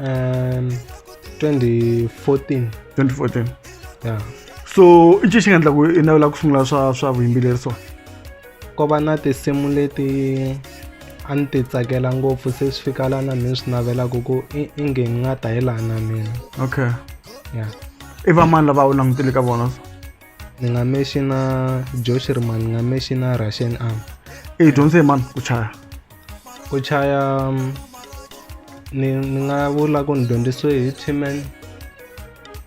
um 2014 2014 ya so i ncini xi nga endla ku i navela ku sungula swa swa vuyimbeleri so ko va na tinsimu leti a ni ti tsakela ngopfu se swi fika lana ni swi navelaka ku inge ni nga ta hi laha na mina okay ya i va mani lava u langutele ka vona so ni nga mexi na joshirman ni nga mexi na russian arm i dyondze hi mani ku chaya ku chaya mm, ni ni nga vula ku ni dyondzisiwe hi tman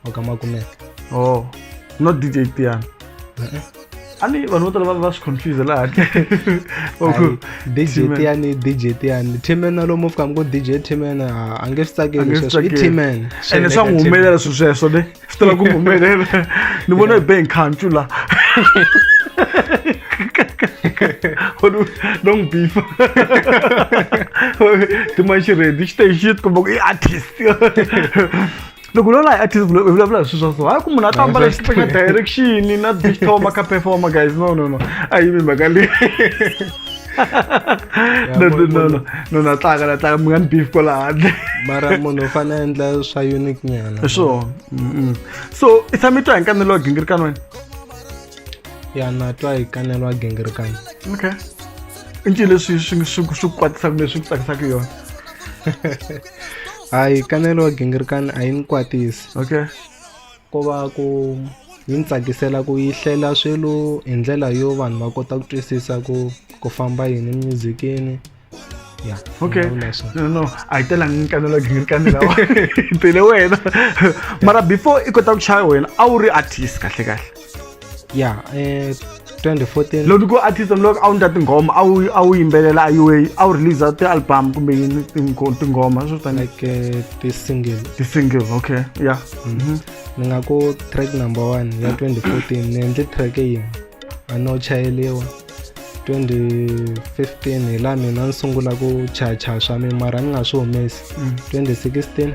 wa ka makumeke oh not dj tiana a ni vanhu vo tala va va swi confuse laha Hayi, dj tiani dj tiani tman na lomu fika mi ku dj tman a a nge swi tsakeli sweswo i tman ene swa n'wi humelela swilo sweswo ne swi tala ku humelela ni vona hi be hi nkhancu la long beef timanxi redi xi te xi ti komba ku i artist loko lola hi artist vulavula hi swilo swa so hayi ku munhu a ta ambala xiteka direction na digital ma ka performer guys no no no a yi mi mhaka leyi no no no no no na tlanga na tlanga mi nga ni beef ko la handle mara munhu u fanele endla swa unique nyana hi swona so i tshame twa hi nkanelo wa gingirikani wena ya na twa hi kanelo wa gingirikani okay i ncini leswi swi swi swi ku kwatisaka leswi ku tsakisaka yona hayi kanelo wa gingirikani a yi ni kwatisi okay Ko va ku yi ni tsakisela ku yi hlela swilo hi ndlela yo vanhu va kota ku twisisa ku ku famba yini emuzikini ya okay no no a yi telangi ni kanela gini kanela tele wena mara before i kota ku chaya wena a wu ri artist kahle kahle ya eh 2014 loko ku artist loko a wu ndla tinghoma a wu a wu yimbelela a way a wu release ti-album kumbe yini tinghoma swo tani like eh, ti-single ti-single okay ya mm-hmm. mm-hmm. ni nga ku track number one ya 2014 ni endle track yin'we a no chayeliwa 2015 hi laha mina ni sungula ku chacha swa mina mara ni nga swi humesi 2016 mm.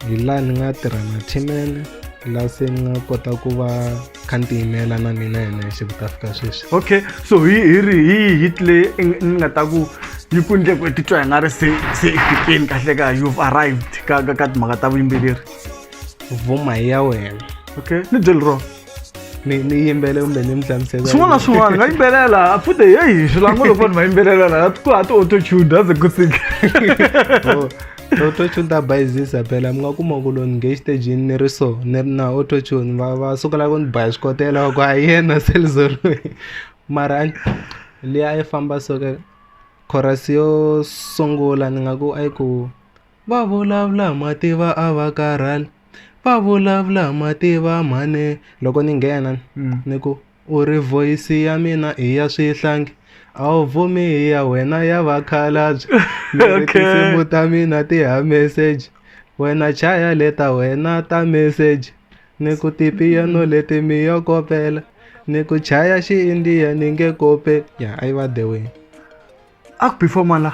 hi laha ni nga tirha na timene laha se ni nga kota ku va kha ni tiyimela na mina hi nexe ku ta fika sweswi okay so hi hi ri hi hit leyi ni nga ta ku yi ku ndle ku titwa hi nga ri se se efikeni kahle ka you've arrived ka ka ka timhaka ta vuyimbeleri vuma hi ya wena okay ni byeli rona ni ni yimbele kumbe ni mi hlamusela swin'wana na swin'wana nga yimbelela futhi heyi swilango loko vanhu va yimbelela laha ku ha ti autotune aze ku sika oh, autotune ta bayizisa phela mi nga kuma ku loni nge xitejini ni ri so ni ri na autotune va va sukela ku ni baya xikotela ku a yena selizoroi mara leyi a yi famba soke chorus yo sungula ni nga ku a yi ku Va vulavula hi mativa a va karhali, va vulavula hi mativa mhani. Loko ni nghena ni ku u ri voice ya mina i ya swihlangi a wu vumi hi ya wena ya vakhalabye ni ri tinsimu ta mina ti ya meseji wena chaya le ta wena ta meseji ni ku tipiyano leti mi yo kopela ni ku chaya xi-India ni nge kopeli ya a yi va the way a ku perform-a la.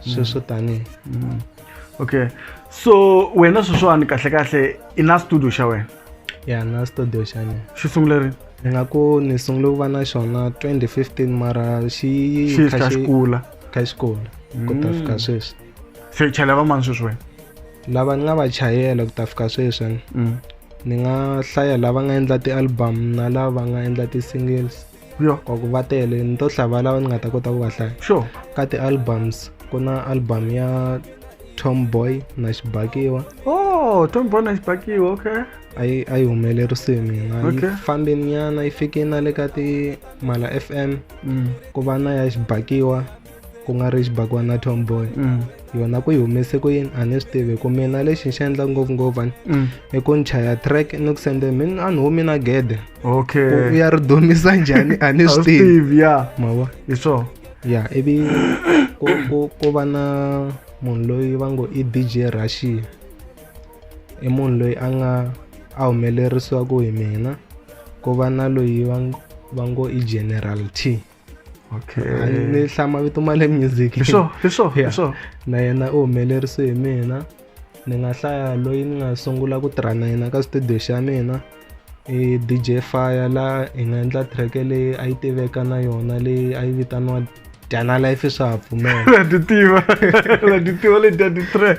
sweswo tanihi mm. okay so wena sweswiwani kahle kahle i na studio xa wena ya na studio xa mina xi sungule rini ni nga ku ni sungule ku va na xona 2015 mara xi kha xi kula kha xi kula ku ta fika mm. sweswi se chayela va mani sweswi wena lava ni nga va chayela ku ta fika sweswi mm. ni nga hlaya lava nga endla ti-album na lava nga endla ti-singles yo or ku va tele ni to hlaya valava ni nga ta kota ku va hlaya sure ka ti-albums ku na album ya tomboy na xibakiwa oh tomboy na xibakiwa okay a yi a yi humelerise mina yi fambe nyana yi fike na le ka ti mala f m mm. ku va na ya xibakiwa ku nga ri xibakwana na tomboy mm. yona ku yi humese ku yini a ni swi tivi ku mina lexi ni xi endla ngopfungopfu ani mm. i ku ni chaya track ni ku sende min a ni humi na gede okay u ya ri dumisa njhani a ni swi tivi ya mava hi swona ya ivi ku ku ku va na munhu loyi va ngo i dj russia i munhu loyi a nga a humelerisiwaku hi mina ku va na loyi va va ngo i general t okay ni hlama vito ma le music hi swo hi swo hi swo na yena u humelerise hi mina ni nga hlaya loyi ni nga sungula ku tirha na yena ka studio xa mina i DJ Fire la hi nga endla track leyi a yi tiveka na yona leyi a yi vitaniwa Dyana Life swa ha pfumela na ti tiva na ti tiva leti ya ti track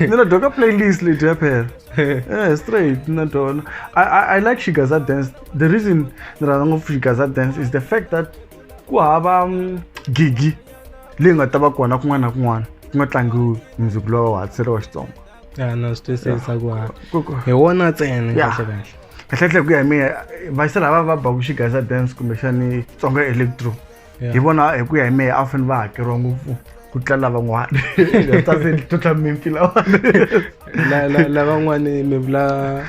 ni na dyoka playlist leti ya phela eh straight na dona i i, I like shigaza dance the reason ni rhandza ngopfu shigaza dance is the fact that ku hava mm, gigi leyi nga ta va kona kun'wana na kun'wana ku nga tlangiwi music lowa wa hatisele wa xitsongo ya na swi twisisa ku ha hi wona ntsena kahlekahle kahlekahle ku ya hi mina vayisela va va baku shigaza dance kumbexani tsonga electro hi vona hi ku ya hi mehe a fanele va hakeriwa ngopfu ku tlula lavan'wana tase tlutla mimpi lavan'wana lavan'wana mi vula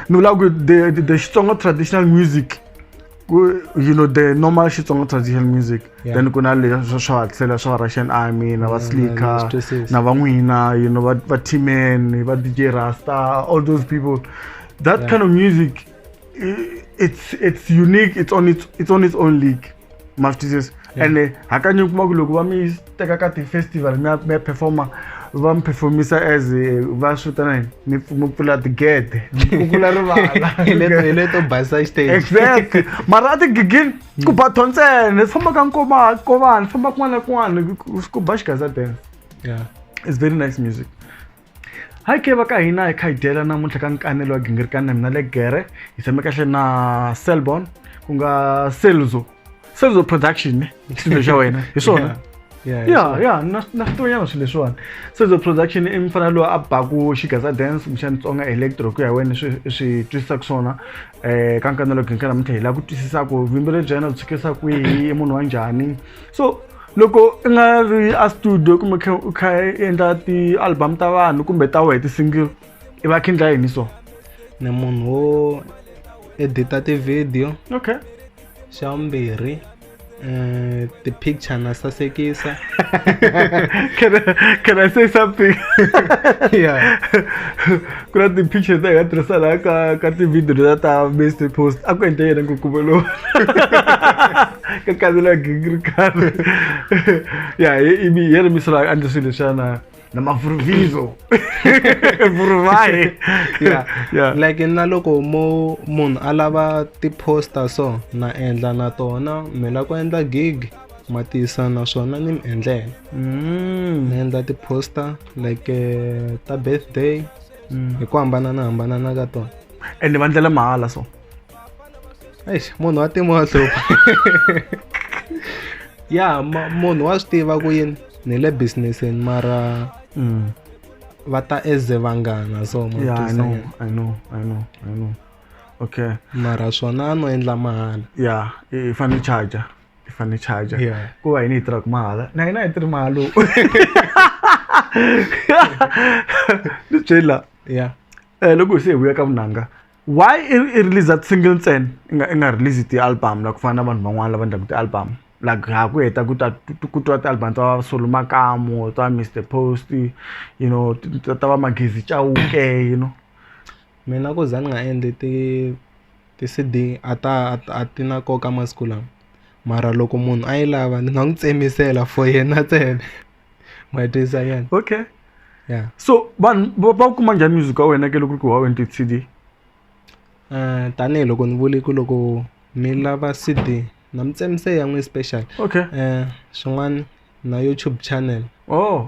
ni vula ku the the xitsonga traditional music you know the normal xitsonga traditional music yeah. then ku na leswa swa hatlela swa russian army na va slicker na van'wina you know va timen va dj rasta all those people that yeah. kind of music it's it's unique it's on its it's on its own league ma swi twisisa ene hakanyingi kuma ku loko va mi teka ka ti-festival mi ya mi ya performa va mi performisa as eh, va swi vitana yini mi pf- mi pfula tigede mi kukula rivala Hi leto- hi leto basa stage exactly mara a tigigini ku ba tho ntsena swi famba ka nkoma kovana swi famba kun'wana na kun'wana ku- ku ba xigaza dance Yeah. it's very nice music Hi ke va ka hina hi kha hi dyela namuntlha ka nkanelo wa gingirikani na mina le gere hi tshame kahle na selbon ku nga selzo selzo production ne xilo xa wena hi swona ya ya na na switonyana swilo leswiwani selzo production i mfana loyi a baku xigaza dance kumbexani tsonga electro ku ya wena swi swi twisisaka swona um ka nkanelo gingirikani namuntlha hi lava ku twisisa ku vuyimbeleri bya yena byi tsukisa kwihi i munhu wa njhani so loko i nga ri a studio kumbe kha u kha i endla ti-album ta vanhu kumbe ta wehe ti-single i va kha endla yini so ni munhu wo edita ti-video okay xa vumbirhi um ti-picture na sasekisa can, I, can i say something yeah ku na ti-picture ta hi nga tirhisana ka ka ti-video leta ta mist post a ku endle yena ngukuvo lowu ka kandzela gingiri karhi ya ivi yena misolo a endle swilo leswiyana na mavuruvhizo vuruvahi ya ya like na loko mo munhu a lava ti-poster so na endla na tona mi la ku endla gig ma tisa naswona ni mi endlela mm. ni endla ti-poster like eh, ta birthday mm. hi ku hambanana hambanana ka tona ende va ndlela mahala so eish munhu wa timo wa hlupha ya munhu wa swi tiva ku yini ni le businessini mara mm. va ta eze vanghana so yeah, I know, I know, I know, I know. okay mara swona a no endla mahala ya i fanele charger i fanele charger yeah. ku va yini yi tirhaka mahala na yina yi tirhi mahalo ni byela yeah eh loko hi se hi vuya ka vunanga why i release that single ntsena i nga i nga release ti-album la ku fana na vanhu van'wana lava endlaka ti-album like ha ku heta ku ta ku twa ti-album ta solo makamo ta mr post you know ta va magezi chauke you know Mina ku za ni nga endli ti ti-C_D a ta a ti na nkoka masiku lawa mara loko munhu a yi lava ni nga n'wi tsemisela for yena ntsena ma yi twisisa ke ni okay ya so vanhu va va wu kuma njhani music wa wena ke loko ku ri ku ti-C_D tanihiloko ni vule ku loko mi lava C_D na mi tsemisela ya n'wina special okay swin'wana na YouTube channel ohh.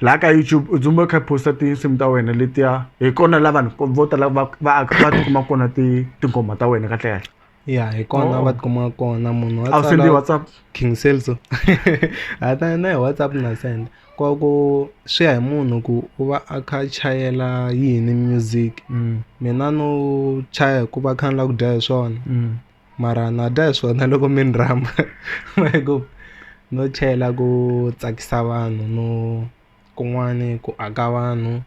laha ka youtube u dzumba u kha posta tinsimu ta wena letiya hi kona la vanhu vo tala va va va tikuma kona ti tinghoma ta wena kahle kahle ya hi kona oh. va tikuma kona munhu a wu sendi whatsapp king selso hata na hi whatsapp na senda kwa ku swi ya hi munhu ku u va a kha chayela yini music mm. mina no chaya hikuva kha ni la ku dya hi swona mm. mara na dya hi swona loko mi ni rhamba hi ku no chela ku tsakisa vanhu no kun'wani ku aka vanhu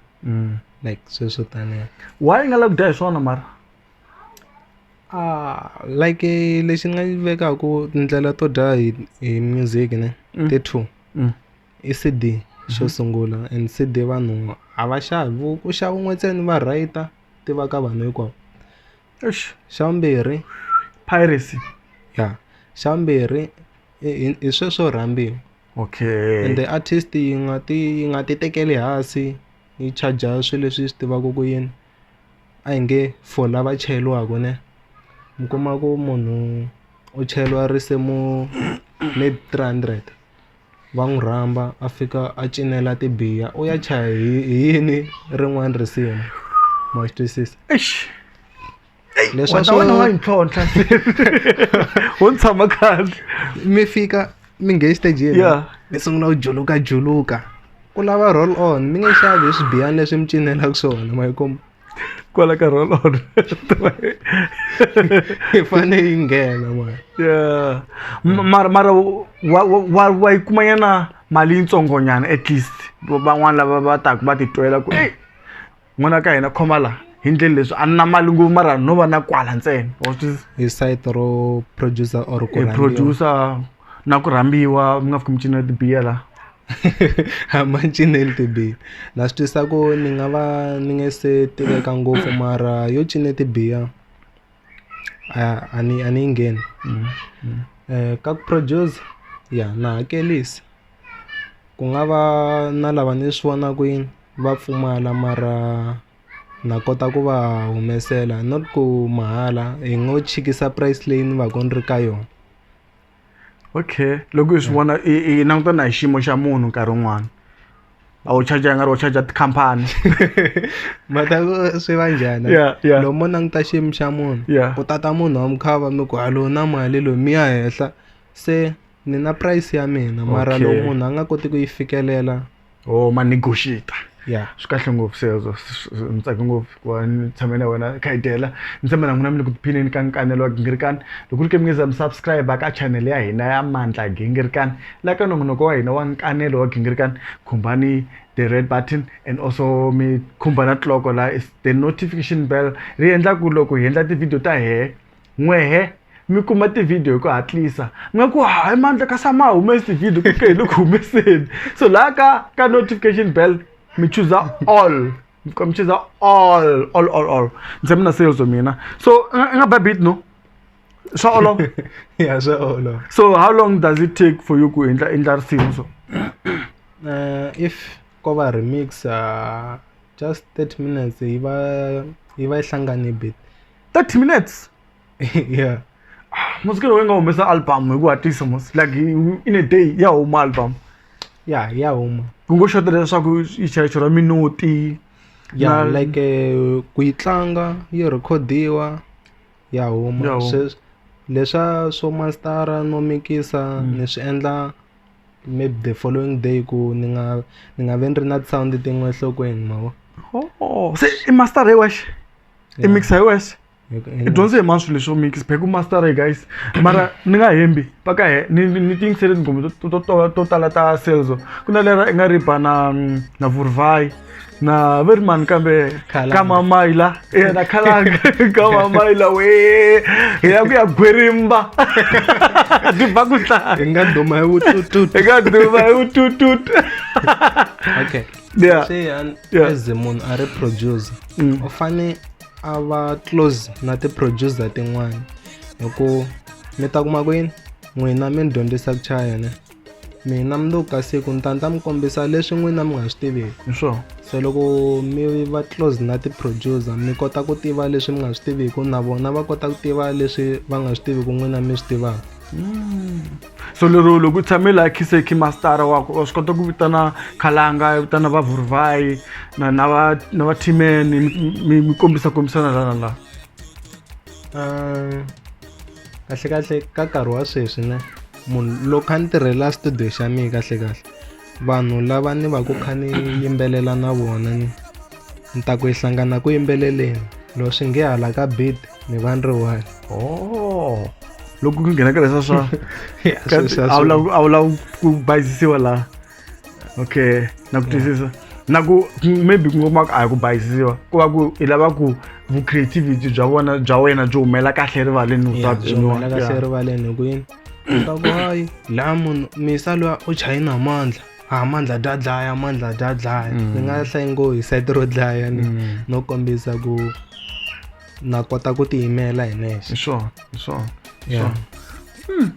like swilo swo taniya why i nga lavi ku dya hi swona mara like lexi ni nga yi vekaku tindlela to dya hi hi music ne ti two i C_D xo sungula and C_D vanhu a va xavi ku xava un'we ntsena va rate-a tiva ka vanhu hinkwavo. Eish xa vumbirhi piracy ya xa vumbirhi i i i sweswo rhambiwa okay ende artist yi nga ti yi nga ti tekeli hansi yi charger swilo leswi yi swi tivaka ku yini a hi nge for lava chayeriwaka ne mi kuma ku munhu u chayeriwa risimu maybe three hundred. va n'wi rhamba a fika a cinela tibiya u ya chaya hi hi yini rin'wana risimu ma swi twisisa Eish. Ey, Leswi wa a ta swo- wena wa yi ntlhontlha se. wo ni tshama kahle mi fika mi nge exitejini Yeah. mi sungula ku juluka juluka ku lava roll on mi nge xavi hi swibiyani leswi mi cinelaka swona ma yi kuma kwala nkarhi wolowo hi fanele yi nghena mara yeah M- mara mara wa wa wa- wa yi kuma yana mali yitsongonyana at least Va- van'wana lava va taku va titwela ku ei n'wana ka hina khoma la hi ndleni leswi a ni na mali ngopfu mara no va na kwala ntsena wa swi twisisa? hi site ro producer or ku e rhandziwa. producer na ku rhambiwa mi nga fiki mi cinela tibiya la a ma cineli tibiya na swi twisa ku ni nga va ni nge se tiveka ngopfu mara yo cine tibiya a a ni a ni yi ngheni mm, mm. Eh, ka ku produce ya na hakelisa ku nga va na lava ni swi vonaka yini va pfumala mara na kota ku va humesela not ku mahala hi ngo chikisa price leyi ni va ku ni ri ka yona. okay loko hi swi vona i i languta na hi xiyimo xa munhu nkarhi wun'wana a wu charge nga ri wo charge tikhampani mhaka ku swi va njhani Yeah, yeah. lomu mo languta xiyimo xa munhu Yeah. ku tata munhu wa mukhava mi ku a lowu na mali lowu mi ya henhla se ni na price ya mina mara Okay. lowu munhu a nga koti ku yi fikelela or oh, ma negotiate yeah swi kahle ngopfu sezo ni tsake ngopfu ku va ni tshame na wena khayidela ni tshame na n'wina mi le ku tiphineni ka nkanelo wa gingirikani loko ri ke mi nge za mi subscribe ka channel ya hina ya mandla gingirikani la ka nongonoko wa hina wa nkanelo wa gingirikani khumbani the red button and also mi khumba na tloko la the notification bell ri endla ku loko hi endla ti-video ta hehe N'wehe, mi kuma tivhidiyo hi ku hatlisa mi nga ku hayi mandla ka sa ma humesi tivhidiyo ku ke hi le ku humeseni so laha ka ka notification bell mi chuza all mi fika mi chuza all all all all ndzi mi na sales mina so i nga babit no swa olova ya swa olova so how long does it take for you ku endla endla risimu so uh, if ko va remix uh, just 30 minutes yi va yi va yi hlangane bit 30 minutes yeah musikelo we nga humesa album hi ku hatlisa mos like in a day ya huma album ya ya huma ku ngo xota leswaku ichaycho ra minuti ya Na- like eh, ku yi tlanga yi rekhodiwa ya Ya huma huma. Swes- leswa swo mastara no mikisa ni swi endla maybe the following day ku ni nga ni nga ve ni ri na sound tin'we enhlokweni mavo oh, se i master hi wexe i mixa hi wexe i dyondze hi mani swilo leswo mix back master e guys mara ni nga hembi paka he ni ni ti yingisele tinghoma to to to to tala ta selzo ku na lera i nga ri ba na na vurvai na ve ri mani kambe Khalanga. ka mamaila e na khalanga ka mamaila we hi ya ku ya gwerimba ti ba ku tlaya hi nga duma hi vutututu eka duma hi vututut okay yeah. Sean yeah. as munhu a ri producer mm. u fane a va close na ti-producer tin'wana hi ku mi ta kuma kwini n'wina mi ni dyondzisa ku chaya ne mina mi ka siku ni ta ni ta mi kombisa leswi n'wina mi nga swi tiveki hi swona se loko mi va close na ti-producer mi kota ku tiva leswi mi nga swi tiviki na vona va kota ku tiva leswi va nga swi tiviki n'wina mi swi tivaka mm. so lero loko u tshame laha khiseki mastara wa wa swi kota ku vitana khalanga u vitana va vurvayi na na va na va timeni mi mi kombisa kombisana lana laha um kahle kahle ka nkarhi wa sweswi ne munhu loko a ni tirhela studio xa mina kahle kahle vanhu lava ni va ku kha ni yimbelela na vona ni ni ta ku yi hlangana ku yimbeleleni loko swi nge hala ka beat ni va ni ri one oh loko ku nghena ka leswa swa a wu lavi a wu lavi ku bayizisiwa laha okay na ku twisisa na ku maybe ku ngoma a hi ku bayizisiwa ku va ku i lava ku vu-creativity bya vona bya wena byi humela kahle erivaleni kahle erivaleni hi ku yini Sabuhayi. la munhu misa loyi u chaye namandla a mandla dya dlaya mandla dya dlaya Mm. ni nga hlayi ngo hi site ro dlaya ni Mm. no kombisa ku na kota ku tiyimela hi nexe Hi swona, hi swona, hi Yeah. swona.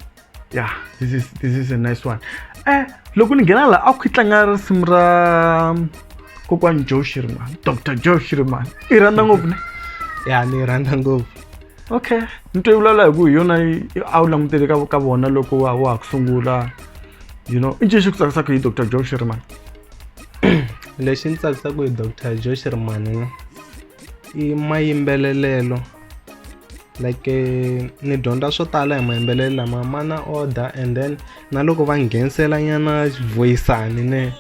Yeah, this is this is a nice one. Eh, loko ni nghena la a ku tlanga risimu ra kokwani Joe Shirman, Dr. Joe Shirman. I rhandza ngopfu ne. ya ni yi rhandza ngopfu okay ni twe vulavula hi ku hi yona a wu langutele ka ka vona loko wa wa ha ku sungula you know i ncini xi ku tsakisaka hi dr joe sherman lexi ni tsakisaka hi dr joe sherman i mayimbelelelo like eh, ni dyondza swo tala hi mayimbelelo lama ma na order and then na loko va nghenisela nyana voyisani ne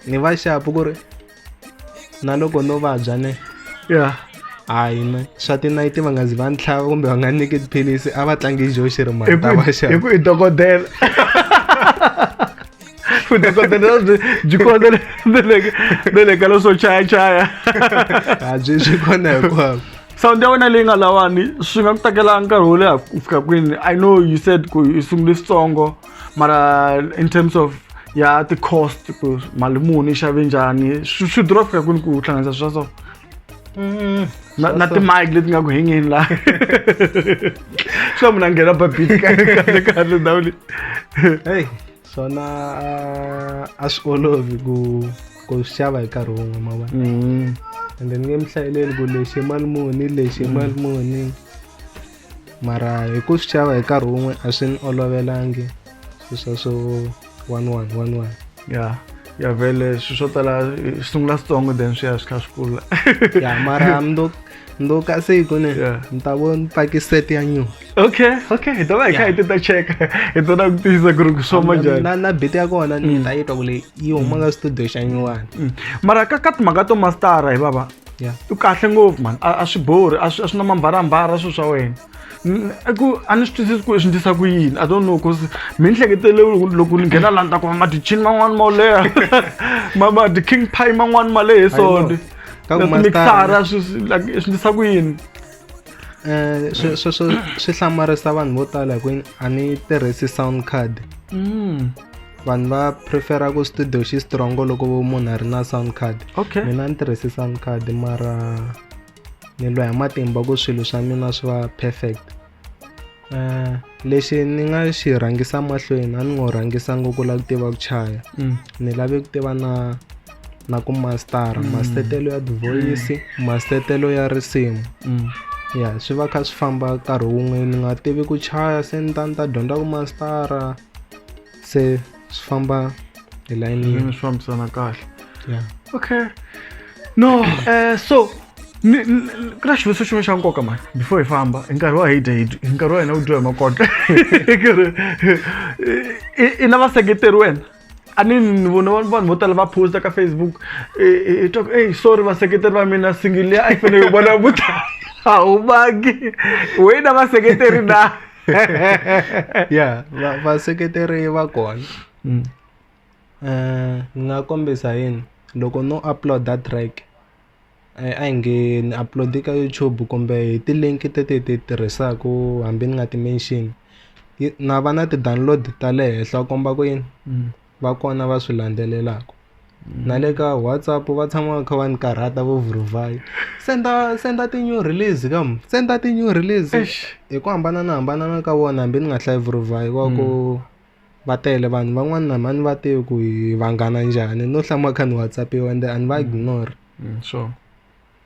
ni va xapu ku ri na loko no vabya ne ya hayi na swa tinayiti va nga zi va ni tlhava kumbe va nga nyiki tiphilisi a va tlangi joxi ri mali ta va xava hi ku i dokodela vudokodela byi kona ne le ka leswo chayachaya a byi byi kona hinkwavo sound ya wena leyi nga lawani swi nga ku tekela nkarhi wo leha ku fika kwini i know you said ku i sungule switsongo mara in terms of ya ti-cost ku mali muni yi xave njhani swi swi durha ku fika kwini ku hlanganisa swa so mm-hmm. na na timike leti nga ku hengeni la swa munhu a nghena babit kahle kahle ndhawu leyi hey swona ah, a swi olovi ku ku xava hi nkarhi wun'we ma vona mm-hmm. ende ni nge mi hlayeleli ku lexi mali muni lexi mali muni mara hi ku swi xava hi nkarhi wun'we a swi ni olovelangi swi swa swo one one one one ya ya vele swi swo tala swi sungula switsongo then swi ya swi kha swi kula ya mara mdo mdo ka se yi kone ni ta vo ni paki set ya new okay okay hi ta va hi kha hi ti ta cheka hi ta na ku tiyisa ku ri ku swoma njhani na na beat ya kona ni mm. ta yi twa ku leyi yi huma ka studio xa nyuwani mm. mara ka ka timhaka to mastara hi baba yeah. u kahle ngopfu mani a swi borhi a swi na mambarambara swilo swa wena ku a ni swi twisisi ku swi ndlisa ku yini i don't know bcause mi ni hleketele loko ni nghena laha ni ta kuma madichini man'wani ma leha madi-king pie man'wani ma lehe sone mixara swi ndlisa ku yini Eh, swi swi swi swi hlamarisa vanhu vo tala hi ku a ni tirhisi sound card mm. vanhu va prefera ku studio xi strongo loko munhu a ri na sound card okay. mina ni tirhisi sound card mara ni lwa hi matimba ku swilo swa mina swi va perfect Eh, lexi ni nga xi rhangisa mahlweni a ni ngo rhangisa ngopfu la ku tiva ku chaya mm. ni lave ku tiva na na ku mastara mm. mastetelo ya divoyisi mm. mastetelo ya risimu mm. ya swi va kha swi famba nkarhi wun'we ni nga tivi ku chaya se ni ta ni ta dyondza ku mastara se swi famba hi layini yin'we swi fambisana kahle yeah. okay no uh, so ku na xivutiso xin'we xa nkoka mani before hi famba hi nkarhi wa hide hi nkarhi wa hina wu dyiwa hi makotla i na vaseketeri wena a ni ni vona vanhu vo tala va posta ka facebook hi twa ku ey sorry vaseketeri va mina singile a yi fanele yi vona vuta a wu vangi wena vaseketeri na ya va vaseketeri va kona mm. eh, ni nga kombisa yini loko no upload-a track eh, a hi nge ni upload-i ka youtube kumbe hi ti-link teti hi ti tirhisaka hambi ni nga ti-mention na va na ti-download ta le henhla u komba ku yini mm. va kona va swi landzelelaka na le ka WhatsApp va tshama va kha va ni karhata vo vuruvhayi senda senda ti-new release ka mu senda ti-new release hi ku hambananahambanana ka vona hambi ni nga hlayi vuruvhayi va ku va tele vanhu van'wani na mhani va tivi ku hi vanghana njhani no hlama kha ni WhatsApp-iwa ende a ni va ignore sure.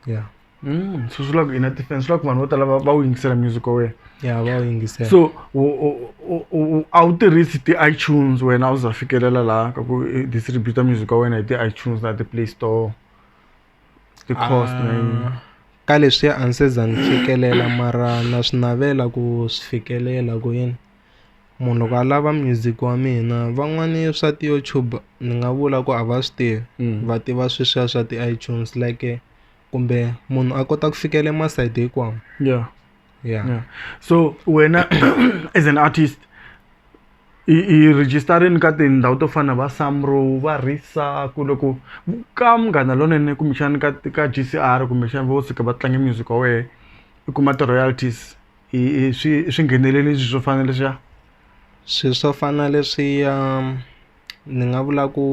yeah Mm, so swi vula ku ina ti-fan swi vula ku vanhu vo tala va va wu yingisela music wa wena yeah va wu yingisela so u- u- u- u- a wu tirhisi ti-itunes wena a wu za fikelela laha ka ku i distributa music wa wena hi ti-itunes na ti-play store ti-cost na yini Ah, ka leswi a ni se za ni fikelela mara na swi navela ku swi fikelela ku yini munhu loko a lava music wa mina van'wani swa ti-YouTube ni nga vula ku a va swi tivi mm. va tiva sweswiya swa ti-iTunes like kumbe munhu a kota ku fikela masayiti hinkwawo yeah. yeah yeah so wena as an artist i i registerini ka tindhawu to fana va samro va risa ku loko ka munghana lonene kumbexani ka ka g c r kumbexani vo suka va tlange music wa wehe i kuma ti-royalties i i swi i swingheneleliso swo fana na leswiya swilo swo fana na leswiya ni nga vula ku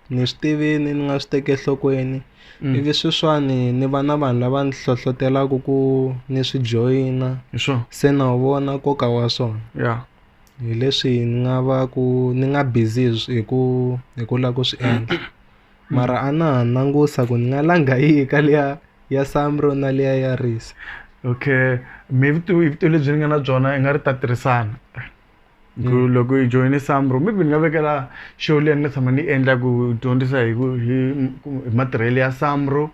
ni swi tivini ni nga swi teki enhlokweni ivi sweswiwani ni va na vanhu lava ni hlohlotelaka ku ni swi joyina hi swo se na wu vona nkoka wa swona ya hi leswi ni nga va ku ni nga busy hi ku hi ku lava ku swi endla. mara a na ha langusa ku ni nga langa yihi ka liya ya samro na liya ya risa okay mi vutivi hi vutivi lebyi ni nga na byona hi nga ri ta tirhisana ku hmm. loko hi joyine samro maybe ni nga vekela show leyi ni nga tshama ni yi endla ku dyondzisa hi ku hi hi matirhelo ya samro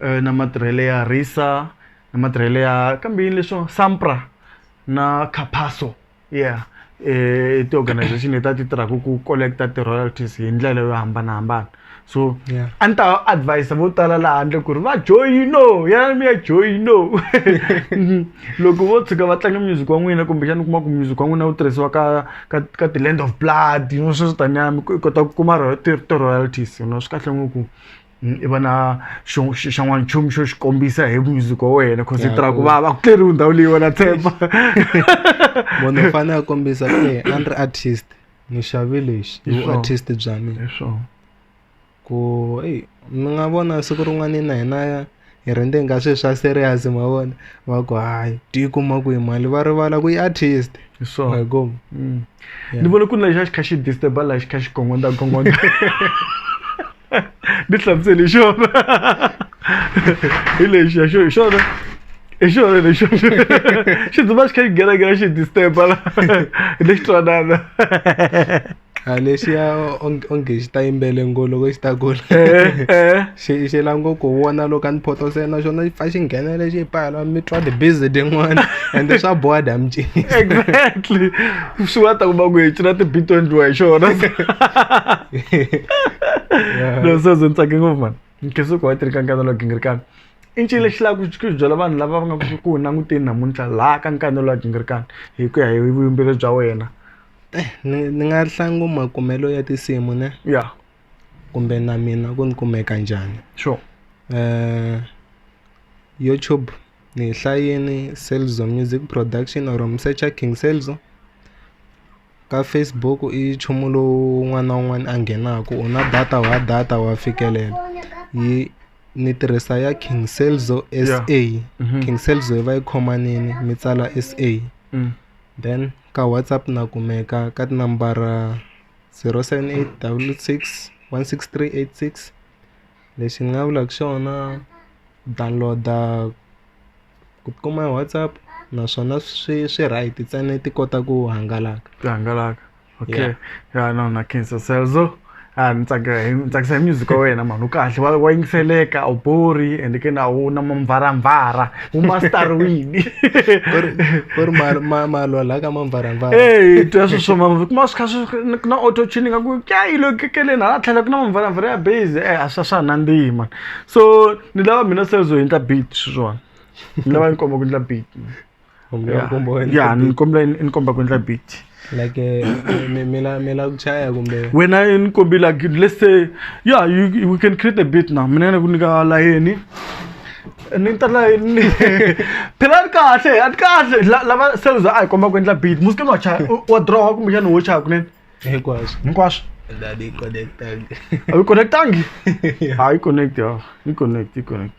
eh, na matirhelo ya risa na matirhelo ya kambe yini leswo sampra na capaso ya i ti-organization leti a ti tirhaka ku collect-a ti-royalties hi ndlela yo hambanahambana so Yeah. a ni ta advise vo tala laha handle ku ri va joyino yana mi ya joyino loko vo tshuka va tlanga music wa n'wina kumbexana u kuma ku music wa n'wina wu tirhisiwa ka ka ka ti-land of blood you know sweswo taniya mi kota ku kuma ro- ti- ti-royalties you know swi kahle ngopfu Mm, i va na xan'wanchumu xo xi kombisa hi music wa wena cause hi tirha ku va va ku tleriwi ndhawu leyi wena tshemba munhu u fanele a kombisa ku e a ni ri artist ni xavi lexi i vuartist bya mina ku eyi ni nga vona siku rin'wana na hina hi rhandza ingaku swilo swa serious ma vona va ku hayi ti yi kuma kwihi mali va rivala ku yi artist hi swona mm. ni vona ku ri lexa xi kha xi disturba laha xi kha xi gongonda gongonda ni hlamuseli hi xona hi lexi ya xo hi xona hi xona lexi xi dzuma xi kha xi ghenaghena xi disturba la hi lexi twanana a lexiya onge onge xi ta yimbele ngo loko xi ta kula xi xi la ngo ku vona loko a ni photosa na xona xi pfa xi nghenele xi yi pfala mi twa ti-biz tin'wana ende swa boha dam cinisa exactly swi nga ta kuma ku hi cina ti-beat to endliwa hi xona no so ze ni tsake ngopfu mani nkhensuko wa tirhi ka nkanelo wa gingirikana i ncini lexi lava ku ku byela vanhu lava va nga ku ku languteni namuntlha laha ka nkanelo wa gingirikana hi ku ya hi vuyimbeleri bya wena ni ni nga hlangana makumelo ya tinsimu ne ya kumbe na mina ku ni kumeka njhani sure YouTube ni yi hlayini Celzo Music Production or mi secha King Celzo ka Facebook i nchumu lowu un'wana na un'wana a nghenaka u na data wa data wa fikelela yi ni tirhisa ya King Celzo S_A King Celzo yi va yi khomanini mi tsala S_A then. Ka WhatsApp na kumeka ka tinambara zero seven eight double six one six three eight six lexi ni nga vulaka xona download-a ku kuma hi WhatsApp naswona swi swi right ntsena ti kota ku hangalaka. Ti hangalaka okay ya no na khensa Celzo. a ni tsakela hi ni tsakisa hi music wa wena mhani u kahle wa wa yingiseleka a wu bori and ke na wu na mamvaramvara wu masterwini ku ri ma- ma- malwa la ka mamvaramvara eyi twa swi swo mama kuma swi kha swi ku na auto tuning ka ku kya yi lo kekeleni hala tlhela ku na mamvaramvara ya base e a swa swa nandzihi mani so ni lava mina se zo endla beat swi swona ni lava ni komba ku endla beat man. kumbe ya nkombo wa endla ya beat. ni kombela ni komba ku endla beat like eh, mi- mi la- mi la ku chaya kumbe wena ni kombi like let's say yeah you, you- we can create a beat now mina ni ku nyika layeni ni ta layeni phela ni kahle a ni kahle La- lava sales a hi komba ku endla beat muske wa chaya u- wa draw kumbe xana wo chaya kunene hinkwaswo hinkwaswo ndani connectang a yi connectangi a yi connect ya yi connect yi connect